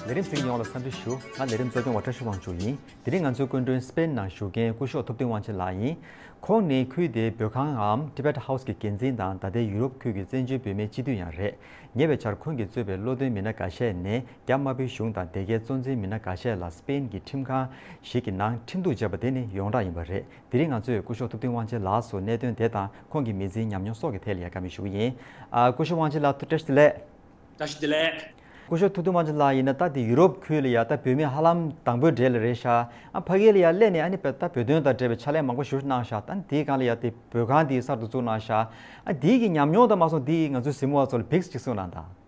ལས་རིམ་ཚོགས་ཡོངས་ལ་འཚམས་འདྲི་ཞུ། ང་ལས་རིམ་གཙོ་སྐྱོང་བ་བཀྲ་ཤིས་དབང་ཕྱུག་ཡིན། དེ་རིང་ང་ཚོའི་སྐུ་མགྲོན་སྤེན་ནང་བཞུགས་མཁན་སྐུ་ཞོགས་ཐུབ་བསྟན་དབང་ཆེན་ལགས་ཡིན། ཁོང་ནི་ཁུལ་དེའི་བོད་ཁང་ངམ Tibet House གི་འགན་འཛིན་དང་ད་ལྟའི་ཡུ་རོབ་ཁུལ་གྱི་བཙན་བྱོལ་བོད་མའི་སྤྱི་འཐུས་ཡང་རེད། ཉེ་བའི་ཆར་ཁོང་གིས་གཙོས་པའི་བློ་འདོན་མི་སྣ་འགའ་ཤས་ནས་རྒྱ་དམར་པོའི་གཞུང་དང་དེ་གའི་གཙོ་འཛིན་མི་སྣ་ག་ཤས་ལ་སི་པེན་གྱི་ཁྲིམས་ཁང་ཞིག་གི་ནང་ཁྲིམས་གཏུགས་བྱས་པ་དེ་ནི་ཡོངས་གྲགས་ཡིན་པ་རེད། དེ་རིང་ང་ཚོས་སྐུ་ཞོགས་ཐུབ་བསྟུན་དབང་ཆེན་ལགས་སུ་གནད་དོན་དེ་དང་ཁོང་གི་མི་ཚེའི་ཉམས་མྱོང་སོགས་ཀྱི་ཐད་ལ་ཡལ་ག་མེད་ཞུ་གི་ཡིན། སྐུ་ཞོགས་དབང་ཆེན་ལགས་ཐུགས་བཀྲ་ཤིས་བདེ་ལེགས། བཀྲ་ཤིས་བདེ་ལེགས། སྐུ་ཞོགས་ཐུབ་བསྟུན་དབང་ཆེན་ལགས་ཡིན་ན་ད་དེ་ཡུ་རོབ་ཁུལ་ལ་ཡ་ད་བོད་མི་ཧ་ལམ་དང་པོའི་གྲས་ལ་རེད་ཤག་ཨ་ཕ་གི་ལ་ཡ་སླད་ནས་ཨ་ནི་བལ་ད་བོད་དོན་དང་འབྲེལ་བའི་ཕྱག་ལས་མང་པོ་བཞུ་གནང་ཤག་ད་ནི་དེའི་སྒང་ལ་ཡ་དེ་བོད་ཁང་དེ་གསར་དུ་བཙུགས་གནང་ཤག་ཨ་དེའི་གི་ཉམས་མྱོང་དང་མ་སོང་དེའི་གི་ང་ཚོའི་གཟིགས་མོ་བ་ཚོ་ལ་བིགས་ཅིག་གསུངས་གནང་ད།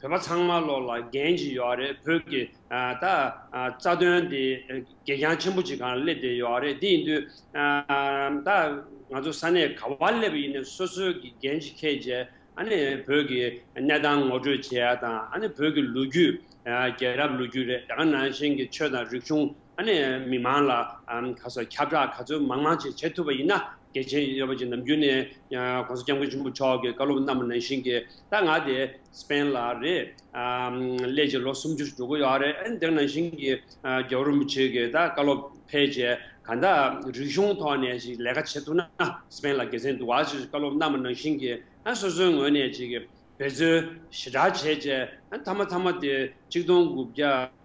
བོད་པ་ཚང་མ་བློ་ལ་འགན་ཞིག་ཡོད་རེད་བོད་ཀྱི་ད་རྩ་དོན་དེ་གད་རྒྱང་ཆེན་པོ་ཅིག་གང་སླེབས་བསྡད་ཡོད་རེད་དེ་ཡིན་དུས་ད་ང་ཚོ་ས་གནས་ག་བ་སླེབས་ཡིན་ནས་སོ་སོའི་གི་འགན་ཞིག་ཁས་རྗེས་ཨ་ནི་བོད་ཀྱི་གནས་སྟངས་ངོ་སྤྲོད་བྱེད་ཡ་དང་ཨ་ནི་བོད་ཀྱི་ལོ་རྒྱུས་རྒྱལ་རབས་ལོ་རྒྱུས་རེད་དེ་ག་ནང་བཞིན་གི་ཆོས་དང་རིག་གཞུང་ཨ་ནི་མི་མང་ལ་ག་སོ་ཁྱབ་བསྒྲགས་ག་ཚོད་མང་མང་ཅིག་བྱེད་ཐུབ་པ་ཡིན་ན་རྒྱལ་ཆེན་གཡོད་པ་ཅན་ནམ་རྒྱུན་ནས ྋགོང་ས ྋསྐྱབས་མགོན་ཆེན་པོ་མཆོག་གི་བཀའ་སློབ་རྣམས་ནང་བཞིན་གྱི་ད་ང་དེ་སྤེན་ལ་རེད། སླད་ཀྱི་ལོ་སུམ་ཅུར་འགྲོ་གི་ཡོད་རེད་འདིར་ནང་བཞིན་གྱི་རྒྱལ་བོ་རིན་པོ་ཆེ་གི་ད་བཀའ་སློབ་ཕལ་ཆེ་ག་ད་རིག་གཞུང་ཐོག་ནས་ཞིག་ལས་ཀ་བྱེད་ཐུབ་ན་སྤེན་ལ་དགེ་མཚན་འདུག་བ་ཅི་བཀའ་སློབ་རྣམས་ནང་བཞིན་གྱི་སོ་སོའི་ངོས་ནས་ཅིག་འབད་རྩོལ་ཞེ་དྲག་བྱས་རྗེས་མཐའ་མ་མཐའ་མ་དེ་གཅིག་སྟོང་དགུ་བརྒྱ།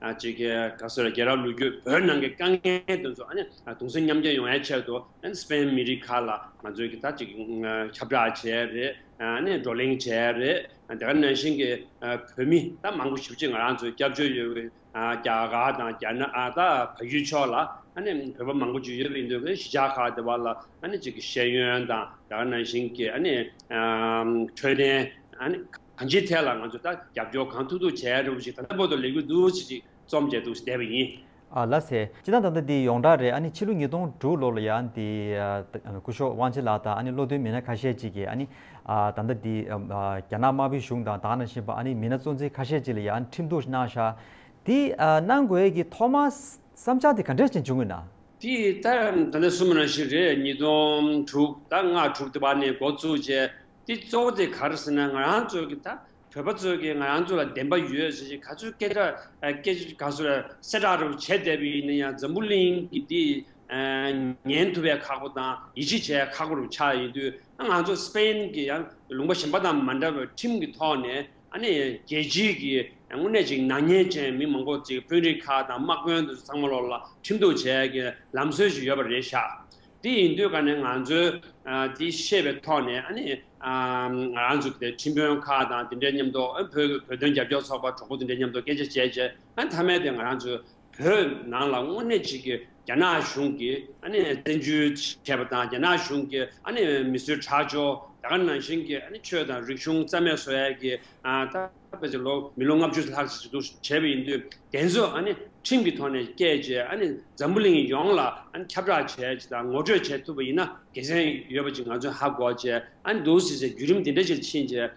གཅིག་ག་སོད་རྒྱལ་རབས་ལོ་རྒྱུས་བོད་ནང་གི་དཀའ་ངལ་དོན་ཚོ་དུང་སེམས་མཉམ་སྐྱེད་ཡོང་བའི་ཆེད་དུ་སི་པེན་མི་རིགས་ཁག་ལ་ང་ཚོས་གི་ད་ཅིག་ཁྱབ་བསྒྲགས་བྱས་རེད་བགྲོ་གླེང་བྱས་རེད་དེ་ག་ནང་བཞིན་གི་བོད་མི་ད་མང་པོ་ཞིབ་ཅིག་ང་རང་ཚོའི་སྐྱབས་བཅོལ་ཡོད་གི་རྒྱ་གར་དང་རྒྱ་ནག་ད་བལ་ཡུལ་ཕྱོགས་ལ་བོད་པ་མང་པོ་ཅིག་ཡོད་གི་འདུག་གི་གཞི་ཆགས་ཁག་དེ་བ་ལ་ཅིག་གི་ཤེས་ཡོན་དང་དེ་ག་ནང་བཞིན་གི་འཕྲོད་བསྟེན་གང་ཅིའི་ཐད་ལ་ང་ཚོས་ད་རྒྱབ་སྐྱོར་གང་ཐུབ་ཐུབ་བྱས་རུང་ཞིག་ད་ལྟ་བོད་དུ་ལས་འགུལ་འདུ་ཤེས་ཤིག་རྩོམ་བཅས་འདུག་བསྡད་པ་ཡིན། ཨ་ལ་སེ། ཅི་ད་ད་ལྟ་འདི་ཡོངས་གྲགས་རེད་ཨ་ནི་ཕྱི་ལོ་ཉིས་སྟོང་དྲུག་ལོར་ལ་ཡ་འདི་སྐུ་ཞོགས་དབང་ཆེན་ལགས་དང་ཨ་ནི་བློ་མཐུན་མི་སྣ་ཁ་ཤས་ཅིག་གིས་ཨ་ནི་ད་ད་འདི་རྒྱ་ནག་དམར་པོའི་གཞུང་དང་དྭགས་ནང་བཞིན་པ་ཨ་ནི་མི་སྣ་གཙོ་འཛིན་ཁ་ཤས་ཅིག་ལ་ཡ་ཨ་ནི་ཁྲིམས་གཏུགས་གནང་ཤག་དེ་གནང་དགོས་ཀྱི་ཐོག་མ་བསམ་འཆར་དེ་ག་འདྲས་ཅིག་འབྱུང་ངེས་ན། དེ་ད་ད་ལྟ་གསུམ་རང་བཞིན་རེད་ཉིས་སྟོང་དྲུག་ད་ལྔ་དྲུག་དེ་བར་ནས་འགོ་བཙུགས་རྗེས། དེ་གཙོ་བོ་དེ་ག་རེ་ཟེར་ན་ང་རང་ཚོ་གི་ད་བོད་པ་ཚོ་གི་ང་རང་ཚོ་ལ་བདེན་པ་ཡོད་ཟེར་བཞིན་ག་ཚོད་སྐད་གྲགས་སྐད་ཆ་ག་ཚོད་གསལ་བསྒྲགས་རུ་བྱས་བསྡད་པ་ཡིན་ན་ཡང་འཛམ་བུ་གླིང་གི་འདི་ཉན་ཐུབ་པའི་ཁག་པོ་དང་ཡིད་ཆེས་བྱས་ཁག་པོ་རུ་ཆགས་ཡིན་དུས་ང་ཚོ Spain གི་ཡང་ལུང་པ་གཞན་པ་དང་མ་འདྲ་བའི་ཁྲིམས་ཀྱི་ཐོག་ནས་ཨ་ནི་རྒྱལ་སྤྱིའི་གི་དངོས་གནས་ཅིག་ནག་ཉེས་ཅན་མི་མང་པོ་ཅིག་དཔོན་རིགས་ཁག་དང་དམག་དཔོན་དུ་ཚང་མ་ལོག་ལ་ཁྲིམས་གཏུགས་བྱས་གི་ལམ་སྲོལ་ཞིག་ཡོད་པ་རེད་ཤག་དེ་ཡིན་དུས་ཀ་ནས་ང་ཚོས་དེ་ཤེས་པའི་ཐོག་ནས་ཨ་ནི། རང་ཚུགས་དེ་ཁྲིམས་དཔོན་ཁག་དང་དེ་འདྲའི་མཉམ་དུ་བོད་བོད་དོན་རྒྱབ་སྐྱོར་ཚོགས་པ་གྲོགས་པོ་དེ་འདྲའི་མཉམ་དུ་སྐད་ཆ་བྱས་རྗེས་ཨ་མཐའ་མའི་དེ་ང་རང་ཚོས་བོད་ནང་ལ་དངོས་གནས་གཅིག་གི་རྒྱ་ནག་གཞུང་གིས་ཨ་ནི་བཙན་འཛུལ་བྱས་པ་དང་རྒྱ་ནག་གཞུང་གིས་ཨ་ནི་མི་སུའི་ཁྲག་སྦྱོར་རྒྱ་གར་ནང་བཞིན་གྱི་ཨ་ནི་ཆོས་དང་རིག་གཞུང་རྩ་མེད་བཟོ་ཡ་གི་ཐབས། བོད་ཀྱི་ལོ་མི་ལོ་ལྔ་བཅུ་ལྷག་ཅིག་ཟུར་འཛུགས་བྱས་པ་ཡིན་དུས་དེ་ཚོ་ཁྲིམས་ཀྱི་ཐོག་ནས་བཀས་བཅད་འཛམ་བུ་གླིང་ཡོངས་ལ་ཁྱབ་བསྒྲགས་བྱས་ཅིག་དང་ངོ་སྤྲོད་བྱས་ཐུབ་པ་ཡིན་ན་དགེ་མཚན་ཡོད་པ་ཅིག་ང་ཚོས་ཧ་གོ་བྱས་འདུག་ཟེར་བྱས་བརྒྱུད་རིམ་དེ་འདྲ་ཞིག་ཕྱིན་རྗེས་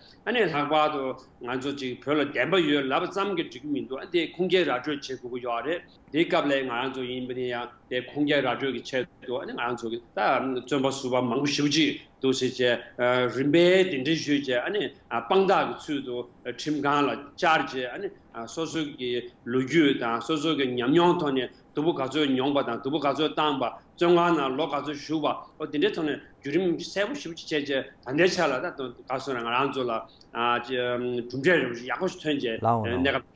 ལྷག་པར་དུ་ང་ཚོ་ཅིག་བོད་ལ་བདེན་པ་ཡོད་ལབ་པ་ཙམ་གྱིས་འགྲིག་གི་མི་འདུག་དེ་ཁུངས་སྐྱེལ་ར་སྤྲོད་བྱེད་དགོས་ཀྱི་ཡོད་རེད། དེའི་སྐབས་ལས་ང་རང་ཚོ་ཡིན་པ་ནི་ཡང་དེ་ཁུངས་སྐྱེལ་ར་སྤྲོད་ཀྱི་ཆེད་དུ་ང་རང་ཚོ་ད་བཙོན་པ་བསུ་བ་མང་པོ་ཞུ་གྱི་འདུག་ཟེར་བྱས་རིམ་པས་དེ་འདྲའི་ཞུས་བྱས་དཔང་རྟགས་ཀྱི་ཚུལ་དུ་ཁྲིམས་ཁང་ལ་བཅར་བྱས་སོ་སོ་གྱི་ལོ་རྒྱུས་དང་སོ་སོ་གྱི་ཉམས་མྱོང་ཐོག་ནས་དུ་བུ་ག་ཚོད་མྱོང་པ་དང་དུ་བུ་ག་ཚོད་བཏང་པ་བཙོན་ཁང་ནང་ལོ་ག་ཚོད་བཞུགས་པ་འོ་དེ་འདྲའི་ཐོག་ནས་བརྒྱུད་རིམ་གསལ་པོ་ཞུ་བྱས་བྱས་ད་ལྟའི་ཆ་ལ་ད་ག་སོང་ང་རང་ཚོ་ལ་གྲུབ་འབྲས་རིང་པོ་ཞིག་ཡག་པོ་ཞིག་ཐོན་བྱས་གནས་སྐབས།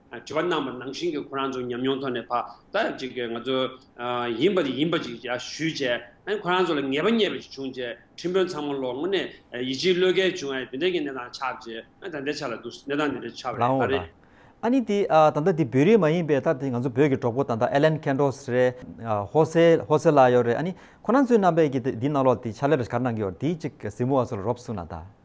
དྲི་བ་གནང་བར་ནང་བཞིན་གྱི་ཁོ་རང་ཚོ་ཉམས་མྱོང་ཐོག་ནས་བར་ཐག་ཅིག་ཅིག་ང་ཚོ་ཡིན་པ་དེ་ཡིན་པ་ཅིག་ཞུས་རྗེས་ཁོ་རང་ཚོ་ལ་ངེས་པ་རྙེད་པ་ཅིག་བྱུང་རྗེས་ཁྲིམས་དཔོན་ཚང་མ་ལོག་སྔོན་ནས་ཡིད་ཆེས་བློས་འགེལ་བྱུང་ཨ་ཡེ་དོན་ལྡན་གྱི་གནས་སྟངས་ཆགས་རྗེས་ད་ལྟའི་ཆ་ལ་འདུག་གནས་སྟངས་དེ་འདྲ་ཆགས་པ་རེད་ལགས་འོ་ད་རེད། ཨ་ནི་དེ་ད་ལྟ་དེ་བོད་རིགས་མ་ཡིན་པའི་ད་དེ་ང་ཚོ་བོད་ཀྱི་གྲོགས་པོ་ད་ལྟ་ཨེ་ལན་ཁན་ཏོས་རེད། ཧོ་སེ་ཧོ་སེ་ལ་ཡོད་རེད་ཨ་ནི་ཁོ་རང་ཚོའི་རྣམ་པས་ཀྱི་དེ་འདི་གནང་ལོག་དེ་ཕྱག་ལས་རེ་གར་གནང་གི་ཡོད་རེད་དེ་ཅིག་གཟིགས་མོ་བ་ཚོ་ལ་རོབ་གསུངས་ན་ད།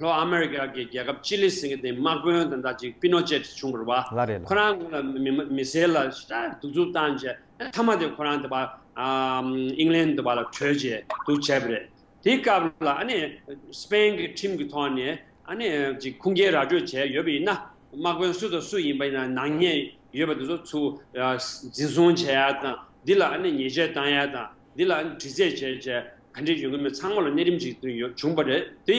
ལྷོ་ཨ་མེ་རི་ཀ་གི་རྒྱལ་ཁབ་ཅི་ལི་སིང་གི་དེ་དམག་དཔོན་དང་འདྲ་ཅིག་པི་ནོ་ཅེ་ཏི་བྱུང་བར་བ། ལ་རེད་ལ། ཁོ་རང་ངོ་ལ་མི་ཟེར་ལ་ཤ་གདུག་རྩུབ་བཏང་རྗེས་མཐའ་མ་དེ་ཁོ་རང་དེ་བ་ཨིང་ལན་དུ་བ་ལ་བྲོས་རྗེས་འདུག་བྱས་པ་རེད། དེའི་སྐབས་ལ་ཨ་ནི་སི་པན་གི་ཁྲིམས་ཀྱི་ཐོག་ནས་ཨ་ནི་ཅིག་ཁུངས་སྐྱེལ་ར་སྤྲོད་བྱས་ཡོད་པ་ཡིན་ན་དམག་དཔོན་སུ་དང་སུ་ཡིན་པ་ཡིན་ན་ནག་ཉེས་ཡོད་པ་དེ་ཚོ་ཚུ་འཛིན་བཟུང་བྱས་ཡ་དང་འདི་ལ་ཨ་ནི་ཉེས་ཆད་བཏང་ཡ་དང་འདི་ལ་འདྲི་རྩད་བྱས་བྱས་ག་འདྲས་ཡོང་གི་མེད་ཚང་མ་ལ་གནས་རིམ་ཅིག་ཏུ་ཡོད་བྱུང་པ་རེད་དེ།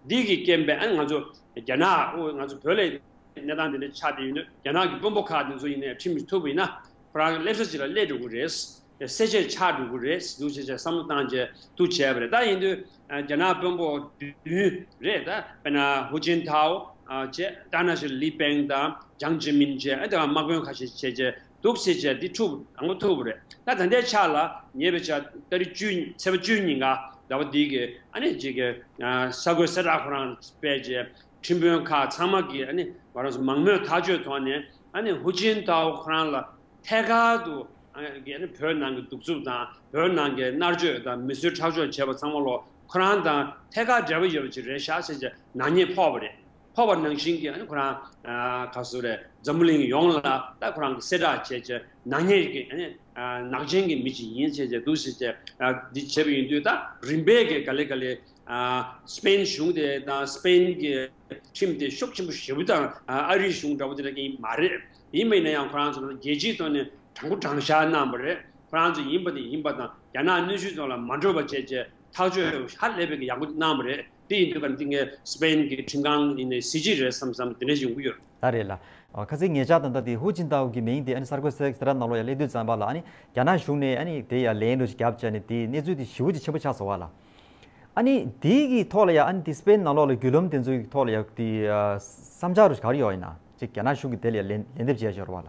འདི་གི་རྐྱེན་པས་ང་ཚོ་རྒྱ་ནག་དབུས་ང་ཚོ་བོད་ལའི་གནས་སྟངས་འདི་འདྲ་ཆགས་བསྡད་ཡོད་དུས་རྒྱ་ནག་གི་དཔོན་པོ་ཁག་འདི་ཚོ་ཡིན་ནའི་ཁྲིམས་མི་ཐུབ་པ་ཡིན་ན་ཁོ་རང་སླེབས་ས་ཅིག་ལ་སླེབས་འགྲོ་གི་རེད། གསལ་བཤད་ཆགས་འགྲོ་གི་རེད་འདུག་བྱས་བྱས་བསམ་བློ་བཏང་བྱས་ཐུག་བྱས་པ་རེད་ད་ཡིན་དུས་རྒྱ་ནག་དཔོན་པོ་བདུན་རེད་ད་དཔེར་ན་ཧུ་ཅིན་ཐའོ་བཅས་ཏཱ་ན་ཞི་ལི་པེང་དང་ཅང་ཅི་མིན་བཅས་དེ་དག་དམག་དཔོན་ཁ་ཤས་བྱས་བྱས་དུག་སེལ་བྱ་འདི་ཐུབ་དང་པོ་ཐུབ་རེད་ད་ད་ལྟའི་ཆ་ལ་ཉེས་པའི་ཆ་སྟ་རི་བཅུ་ཚེ་བ་བཅུ་གཉིས་འགའ་འདྲ་བ་འདི་གི་ཨ་ནི་ཅིག་གི་ས་གོས་སེ་ར་ཁོ་རང་སྤེལ་རྗེས་ཁྲིམས་དཔོན་ཁག་ཚང་མ་གིས་ཨ་ནི་ང་རང་སུ་མང་མོས་ཐག་གཅོད་ཐོག་ནས་ཨ་ནི་ཧུ་ཅིན་ཏའོ་ཁོ་རང་ལ་ཐད་ཀར་དུ་གི་ཨ་ནི་བོད་ནང་གི་གདུག་རྩུབ་དང་བོད་ནང་གི་མནར་གཅོད་དང་མི་གསོད་ཁྲག་སྦྱོར་བྱས་པ་ཚང་མ་ལོ་ཁོ་རང་དང་ཐད་ཀར་འབྲེལ་བ་ཡོད་པ་ཅིག་རེད་ཤག་སེ་བྱས་ནག་ཉེས་ཕོག་པ་རེད། འཕགས་པ་ནང་བཞིན་གྱི་ཁོ་རང་ག་སུ་རེད་འཛམ་བུ་གླིང་ཡོངས་ལ་ད་ཁོ་རང་གི་གསལ་བསྒྲགས་བྱས་ཀྱི་ནག་ཉེས་ཀྱི་ནག་ཅན་གྱི་མི་ཞིག་ཡིན་བྱས་ཀྱི་འདུག་ཟེར་ཀྱི་འདི་བྱས་པ་ཡིན་དུས་ད་རིམ་པས་གི་ག་ལེ་ག་ལེ་སྤེན་གཞུང་དེ་དང་སྤེན་གྱི་ཁྲིམས་དེ་ཤུགས་ཆེན་པོ་ཞེ་བུ་དང་ཨ་རིའི་གཞུང་འདྲ་བོ་དེ་འདྲ་ཡིན་མ་རེད་ཡིན་མིན་ན་ཡང་ཁོ་རང་ཚོ་རང་རྒྱལ་སྤྱིའི་ཐོག་ནས་དྲང་པོ་དྲང་བཞག་གནང་བ་རེད་ཁོ་རང་ཚོ་ཡིན་པ་དེ་ཡིན་པ་དང་རྒྱ་ནག་གནོད་བྱུས་ཚོ་ལ་མ་འགྲོ་བ་བྱས་ཀྱི་ཐག་གཅོད་ཧ་ལས་པའི་གི་ཡག་པོ་གནང་བ་རེད་དེ་ཡིན་དུས་བར་འདི་ངས་སི་པེན་གྱི་ཁྲིམས་ཁང་ཡིན་ནའི་སི་ཇི་རེད་བསམ་བསམ་དེ་འདྲའི་ཡོང་གི་ཡོད། ད་རེད་ལ། ཁ་ཚིག་ངེད་ཅག་དང་འདྲ་དེ་ཧུའུ་ཅིན་ཏའོ་གི་མིང་དེ་ཨ་ནི་གསར་འགོད་སེ་ར་ནག་ལོ་ཡ་ཀླད་དུས་ཙམ་པ་ལ་ཨ་ནི་རྒྱ་ནག་གཞུང་ནས་ཨ་ནི་དེ་ཡ་ལན་རུ་ཞིག་རྒྱབ་བྱས་ནས་དེའི་གནས་ཚུལ་དེ་ཞིའུ་ཅི་ཆེན་པོ་ཆགས་སོང་བ་ལ། ཨ་ནི་དེ་གི་ཐོག་ལ་ཡ་ཨ་ནི་དེ་སི་པེན་ནག་ལོ་ལ་རྒྱུད་ལུམ་དེ་ཚོའི་ཐོག་ལ་ཡ་དེ་བསམ་འཆར་རུ་ཞིག་ག་རེ་ཡོད་ཡིན་ན་ཅིག་རྒྱ་ནག་གཞུང་གི་དེ་ལ་ཡ་ལན་ལན་འདེབས་བྱས་ཞོར་བ་ལ།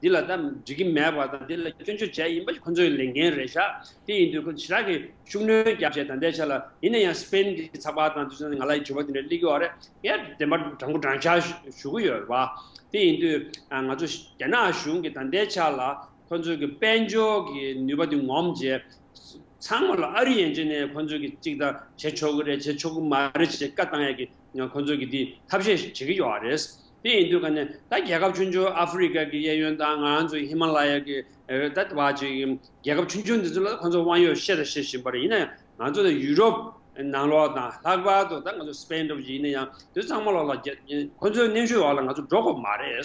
འདི་ལ་ད་འགྲིག་གི་མེད་པ་དང་འདི་ལ་སྐྱོན་བརྗོད་བྱས་ཡིན་པ་ཁོ་ཚོའི་ལས་འགན་རེད་ཤག་དེ་ཡིན་དུས་ཁོ་ཚོ་ཇི་ལྟར་གྱིས་ཤུགས་སྣོན་བརྒྱབ་བྱས་ད་ལྟའི་ཆ་ལ་ཡིན་ན་ཡང་སྤེན་གྱི་ཚགས་པར་དང་དུས་ཚོད་ང་ལ་དྲི་བ་དེ་འདྲ་གླེགས་ཡོད་རེད་ངས་བདེན་པ་དྲང་པོ་དྲང་བཞག་ཞུ་གི་ཡོད་རེད་དེ་ཡིན་དུས་ང་ཚོ་རྒྱ་ནག་གཞུང་གིས་ད་ལྟའི་ཆ་ལ་ཁོ་ཚོའི་གི་དཔལ་འབྱོར་གྱི་ནུས་པ་དེ་ངོམ་རྗེས་ཚང་མ་ལ་ཨ་རི་ཡན་ཆད་ནས་ཁོ་ཚོས་གི་ཅིག་དང་བྱེད་ཆོག་གི་རེད་བྱེད་ཆོག་གི་མ་རེད་ཅེས་བཀའ་བཏང་ཡས་གི་ཁོ་ཚོས་གི་དེ་ཐབས་ཤེས་བྱེད་གི་ཡོད་རེད། དེ་ཡིན་དུས་ཀ་ནས་ད་རྒྱལ་ཁབ་ཆུང་ཆུང་ཨ་ཧྥུ་རི་ཀ་གི་གཡས་གཡོན་དང་ང་རང་ཚོ་ཧི་མ་ལ་ཡ་གི་ད་ལྟ་བ་ཅིག་གི་རྒྱལ་ཁབ་ཆུང་ཆུང་འདི་ཚོ་ལ་ཁོང་ཚོ་དབང་ཡོད་བཤད་དང་བཤད་བཞིན་པ་རེད་ཡིན་ན་ཡང་ང་ཚོ་ལ་ཡུ་རོབ་ནང་ལོགས་དང་ལྷག་པར་དུ་ད་ང་ཚོ་སྤེན་འགྲོ་བ་ཅིག་ཡིན་ན་ཡང་དེ་ཚོ་ཚང་མ་ལོགས་ལ་ཁོང་ཚོའི་གནས་ཤུལ་འོག་ལ་ང་ཚོ་འགྲོ་དགོས་མ་རེད།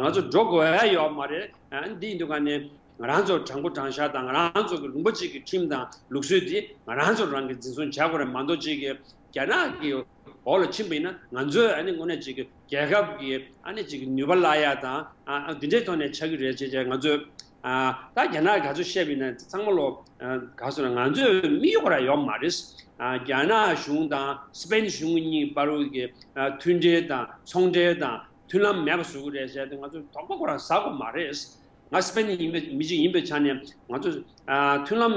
ང་ཚོ་འགྲོ་དགོས་ཨེ་ཡོད་མ་རེད། དེ་ཡིན་དུས་ཀ་ནས་ང་རང་ཚོ་དྲང་པོ་དྲང་བཞག་དང་ང་རང་ཚོ་གི་ལུང་པ་ཅིག་གི་ཁྲིམས་དང་ལུགས་སྲོལ་དེ་ང་རང་ཚོ་རང་གིས་འཛིན་བཟུང་བྱ་དགོས་རེད་མ་མདོ་ཅིག་གི་རྒྱ་ནག་གི་བོགས་ལ་ཕྱིན་པ་ཡིན་ན་ང་ཚོས་ཨ་ནི་དངོས་གནས་ཅིག་རྒྱལ་ཁབ་ཀྱི་ཨ་ནི་ཅིག་ནུས་པ་བླ་ཡ་དང་འདི་འདྲའི་ཐོག་ནས་ཆགས་ཀྱི་རེད་ཅེས་ཅེས་ང་ཚོས་ད་རྒྱ་ནག་ག་ཚོད་བཤད་པ་ཡིན་ན་ཚང་མ་ལོ་ག་སོང་ན་ང་ཚོས་མི་ཡོག་ར་ཡོག་མ་རེད། རྒྱ་ནག་གཞུང་དང་སི་པན་གཞུང་གཉིས་བར་དབུས་ཀྱི་མཐུན་འབྲེལ་དང་ཚོང་འབྲེལ་དང་མཐུན་ལམ་མེད་པ་བཟོ་གི་རེད་ཅེས་ང་ཚོས་དོགས་པ་ཁོ་རང་ཟ་དགོས་མ་རེད། ང་སི་པན་ཡིན་པའི་མི་ཅིག་ཡིན་པའི་ཆ་ནས་ང་ཚོས་མཐུན་ལམ།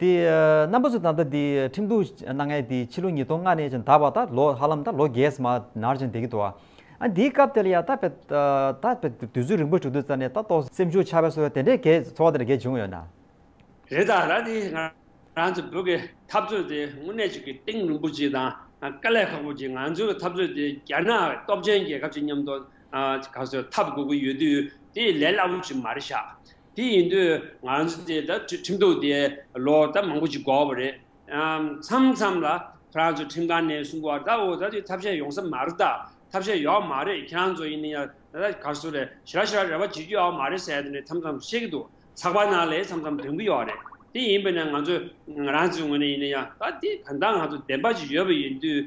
དེ་རྣམ་པ་ཚོས་ད་ལྟ་འདི་ཁྲིམས་གཏུག་གནང་མཁན་དེ་ཕྱི་ལོ་ཉིས་སྟོང་ལྔ་ནས་ཅིང་ད་བར་ད་ལོ་ཧ་ལམ་ད་ལོ་བརྒྱད་མ་ནར་ཅིང་འདས་ཀྱི་འདུག་ཨ། འདིའི་སྐབས་དེ་ལ་ཡང་ད་བས་ད་བས་དུས་ཚོད་རིང་པོ་བྱུང་དུས་ད་ནས་ད་ཏོག་སེམས་ཤུགས་ཆགས་པས་སོ་དེ་འདྲའི་གས་ཚོར་བ་དེ་འདྲ་གས་བྱུང་ཡོད་ན། རེད་ད་ར་དེ་ང་རང་ཚོ་བོད་ཀྱི་འཐབ་རྩོད་དེ་དངོས་གནས་ཅིག་གི་ཏིང་རིན་པོ་ཆེ་དང་དཀའ་ལས་ཁག་པོ་ཅིག་ང་ཚོའི་འཐབ་རྩོད་དེ་རྒྱ་ནག་སྟོབས་ཆེན་རྒྱལ་ཁབ་ཅིག་མཉམ་དུ་ག་ཚོད་འཐབ་དགོས་ཀྱི་ཡོད་དུས་དེ་ལས་སླ་པོ་ཅིག་མ་རེད་ཤག་དེ་ཡིན་དུས་ང་ཚོ་དེ་ད་ཁྲིམས་གཏུགས་ཏེ་ལོ་ཟླ་མང་པོ་ཞིག་འགོར་བ་རེད། མཚམས་མཚམས་ལ་ཁྱེད་རང་ཚོ་ཁྲིམས་ཁང་ནས་གསུང་གོ་ད་འོ་ད་དེ་ཐབས་ཤེས་ཡོང་ས་མ་རེད་ད་ཐབས་ཤེས་ཡོག་མ་རེད་ཁྱེད་རང་ཚོ་ཡིན་ན་ཡང་ད་ད་ག་སུ་རེད་ཞི་ར་ཞི་ར་རེ་བ་བྱེད་རྒྱུ་ཡོག་མ་རེད་ཟེར་ཏེ་ནས་མཚམས་མཚམས་བཤད་ཀྱི་འདུག་ཚགས་པར་ནང་ལས་མཚམས་མཚམས་འདོན་གྱི་ཡོག་རེད། དེ་ཡིན་པས་ན་ང་ཚོ་ང་རང་ཚོའི་ངོས་ནས་ཡིན་ན་ཡང་ད་དེ་གང་ལྟར་ང་ཚོ་བདེན་པ་ཞིག་ཡོད་པ་ཡིན་དུས།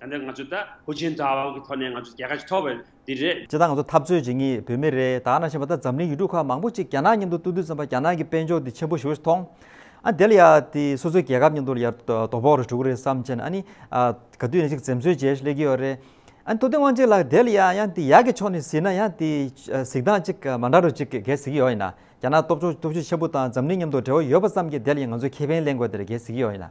ད་ནི་ང་ཚོས་ད། ཧུའུ་ཅིན་ཐའོ་ཝང་གི་ཐོག་ནས་ང་ཚོས་རྒྱལ་ཁ་ཞིག་ཐོབ་པ་འདི་རེད། སྤྱི་བཏང་ང་ཚོ་འཐབ་རྩོད་བྱེད་ངེས་བོད་མི་རེད་ད་ང་ནང་བཞིན་པ་ད་འཛམ་གླིང་ཡུལ་གྲུ་ཁག་མང་པོ་ཅིག་རྒྱ་ནག་མཉམ་དུ་ཏུ་ཏུ་ཙམ་པ་རྒྱ་ནག་གི་དཔལ་འབྱོར་འདི་ཆེན་པོ་ཞིག་མཐོང། ཨ་དེ་ལ་ཡ་དེ་སོ་སོའི་རྒྱལ་ཁབ་མཉམ་དུ་ལ་ཡར་དོ་ཕོག་རེ་གྲུག་རེ་བསམ་བྱས་ན་ཨ་ནི་ཨ་ག་དུས་ནས་ཅིག་འཛེམ་ཟོན་བྱས་ཤིག་སླེབས་ཀྱི་ཡོད་རེད། ཨ་ནི་ཏུ་ཏི་ཝང་ཅིག་ལ་དེ་ལ་ཡ་ཡ་དེ་ཡག་གི་ཕྱོགས་ནས་གཟིགས་ན་ཡ་དེ་གཟིགས་སྟངས་ཅིག་མ་འདྲ་རུ་ཅིག་གས་གཟིགས་ཀྱི་ཡོད་ཡིན་ན་རྒྱ་ནག་སྟོབས་ཆོག་སྟོབས་ཤུགས་ཆེན་པོ་དང་འཛམ་གླིང་མཉམ་དུ་འབྲེལ་བ་ཡོད་པ་ཙམ་གྱི་དེ་ལ་ཡ་ང་ཚོས་ཁེ་ཕན་ལེན་དགོས་དེ་རེད་གས་གཟིགས་ཀྱི་ཡོད་ཡིན་ན།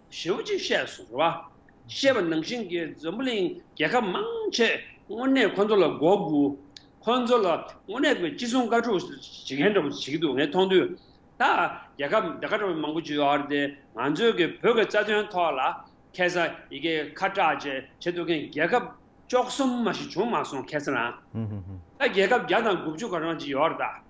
ཞེའུ་ཅིག་བཤད་སོང་ཟེར་བ། བཤད་པ་ནང་བཞིན་གྱི་འཛམ་བུ་གླིང་རྒྱལ་ཁབ་མང་ཆེས་དངོས་གནས་ཁོ་ཚོ་ལ་མགོ་སྒུར། ཁོ་ཚོ་ལ་དངོས་གནས་ཀྱི་ཅི་གསུང་བཀའ་དྲུག་ཞིག་མཁན་འདྲ་པོ་བྱེད་ཀྱི་འདུག་ངས་མཐོང་དུས། ད་རྒྱལ་ཁབ་འདྲ་ཁ་དྲོ་མང་པོ་བྱུས་ཨར་དེ་ང་ཚོའི་གི་བོད་ཀྱི་རྩ་དོན་ཐོག་ལ་ཁེ་ས་ཡི་གེ་ཁ་གྲགས་བཅས་བྱེད་འདུག་མཁན་རྒྱལ་ཁབ་ཅོག་གསུམ་མ་ཞིག་བྱུང་མ་སོང་ཁེ་ས་རང། ད་རྒྱལ་ཁབ་བརྒྱ་དང་དགུ་བཅུ་ག་རང་ཅིག་ཡོད་ཨར་ད།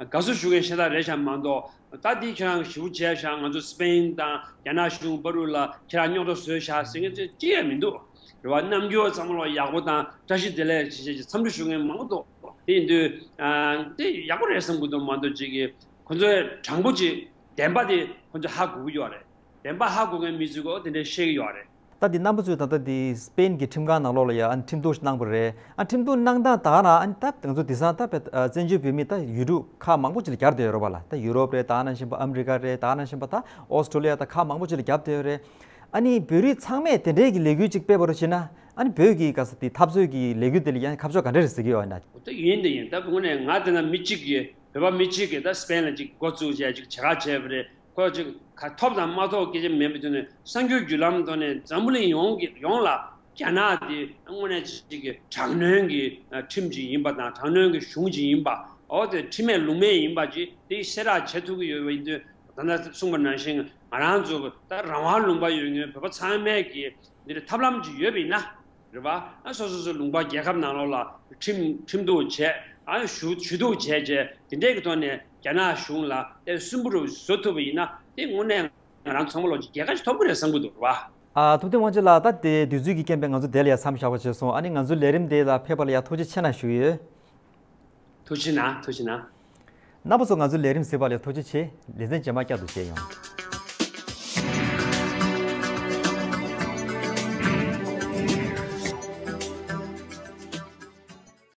དགའ་བསུ་ཞུ་མཁན་ཤ་སྟག་རེད་ཤག་མ་འདོག་ད་དེ་ཁྱེད་རང་གི་ཞི་བུ་བྱས་ཤག་ང་ཚོ་སི་པེ་ཡིན་དང་རྒྱ་ནག་གཞུང་དཔའ་རུ་ལ་ཁྱེད་རང་རྙོག་དྲ་བཟོས་ཤག་ཟེར་མཁན་ཚོས་ཅི་ཡང་མི་འདུག་རེ་བ་རྣམ་འགྱུར་བ་ཚང་མ་ལོག་ཡག་པོ་དང་བཀྲ་ཤིས་བདེ་ལེགས་བྱེད་བྱེད་ཀྱི་འཚམས་འདྲི་ཞུ་མཁན་མང་པོ་འདུག་དེ་ཡིན་དུས་དེ་ཡག་པོ་རེད་བསམ་དགོས་དོན་མ་འདུག་གཅིག་གིས་ཁོ་ཚོའི་དྲང་པོ་གཅིག་བདེན་པ་དེ་ཁོ་ཚོས་ཧ་གོ་གི་ཡོད་རེད་བདེན་པ་ཧ་གོ་མཁན་མི་ཚོས་གོ་དེ་འདྲས་བཤད་ཀྱི་ཡོད་རེད། ལྟ་དེ་རྣམ་པ་ཚོས་ད་ལྟ་དེ་སྤེན་གྱི་ཁྲིམས་ཁང་ནང་ལོགས་ལ་ཡང་ཨ་ཁྲིམས་གཏུགས་གནང་པ་རེད་ཨ་ཁྲིམས་གཏུགས་གནང་སྟངས་དག་ན་ཨ་ད་དེང་ཚོ་དེ་སང་ད་བལ་བཙན་བྱོལ་བོད་མི་ད་ཡུལ་གྲུ་ཁག་མང་པོ་ཅིག་ལ་རྒྱབ་བསྡད་ཡོད་རོགས་པ་ལ་ད་ཡུ་རོབ་རེད་དག་ན་བཞིན་པ་ཨ་མི་རི་ཀ་རེད་དག་ན་བཞིན་པ་ད་ཨོ་སི་ཀྲོ་ལི་ཡ་ད་ཁག་མང་པོ་ཅིག་ལ་རྒྱབ་བསྡད་ཡོད་རེད་ཨ་ནི་བོད་རིགས་ཚང་མས་དེ་འདྲའི་གི་ལས་འགུལ་ཅིག་སྤེལ་བ་རུ་བྱེད་ན་ཨ་ནི་བོད་ཀྱི་ག་ས་དེ་འཐབ་རྩོད་ཀྱི་ལས་འགུལ་དེ་ལ་ཡང་ཁ་ཕྱོགས་ག་འདྲ་རེད་ཟེར་གི་ཡོད་ཨ་ན། འོ་ད་ཡིན་ད་ཡིན་ད་དགོངས་ནས་ང་དེ་སྔ་མི་གཅིག་གིས་བོད་པ་མི་གཅིག་གིས་ད་སྤེན་ལ་ཅིག་འགོ་བཙུགས་བྱས་ཅིག་བྱེད་ཁག་བྱས་པ་རེད། དགོས། གཅིག། ཐོབ་དང་མ་ཐོབ་སྐད་ཆ་མེད་པའི་དོན་ནི་གསར་འགྱུར་བརྒྱུད་ལམ་ཐོག་ནས་འཛམ་བུ་གླིང་ཡོངས་ལ་རྒྱ་ནག་དེ་དངོས་གནས་གཅིག་གི་དྲག་གནོན་གྱི་ཁྲིམས་གཅིག་ཡིན་པ་དང་དྲག་གནོན་གྱི་གཞུང་གཅིག་ཡིན་པའོ། དེ་ཁྲིམས་མེད་ལུགས་མེད་ཡིན་པ་གཅིག་དེ་གསལ་བསྒྲགས་བྱེད་ཐུབ་ཀྱི་ཡོད་པ་ཡིན་དུས་ད་ལྟ་གསུངས་པ་ནང་བཞིན་ང་རང་ཚོ་ལྟ་རང་དབང་ལུང་པ་ཡོད་ངེས་བོད་པ་ཚང་མས་ཀྱི་འདི་ལ་ཐབས་ལམ་གཅིག་ཡོད་པ་ཡིན་ན་རེད་པ། སོ་སོ་སོའི་ལུང་པ་རྒྱལ་ཁབ་ནང་ལོགས་ལ་ཁྲིམས་ཁྲིམས་གཏུགས་བྱས། ཞུ་གཏུགས་བྱས་བྱས་དེ་འདྲས་ཀྱི་ཐོག་ནས། རྒྱ་ནག་གཞུང་ལ་དེ་གསོན་པོ་རུ་བཟོ་ཐུབ་པ་ཡིན་ན་དེ་དངོས་གནས་ང་རང་ཚང་མ་ལོག་ཅིག་རྒྱལ་ཁ་ཞིག་ཐོབ་གི་རེད་བསམ་གི་འདུག་རེད་བ། ཐུབ་བསྟན་དབང་ཆེན་ལགས་ད་དེ་དུས་ཚོད་ཀྱི་རྐྱེན་པས་ང་ཚོ་དེ་ལ་ཡ་མཚམས་བཞག་པ་བྱས་སོང་ཨ་ནི་ང་ཚོའི་ལས་རིམ་དེ་ལ་ཕེབས་པ་ལ་ཡ་ཐུགས་རྗེ་ཆེ་ན་ཞུ་ཡོད། ཐུགས་ཆེ་ན་ཐུགས་ཆེ་ན། རྣམ་པ་ཚོ་ང་ཚོའི་ལས་རིམ་ཟེར་བ་ལས་ཐུགས་རྗེ་ཆེ། ལེ་ཚན་རྗེས་མ་བསྐྱར་དུ་བྱས་ཡོང།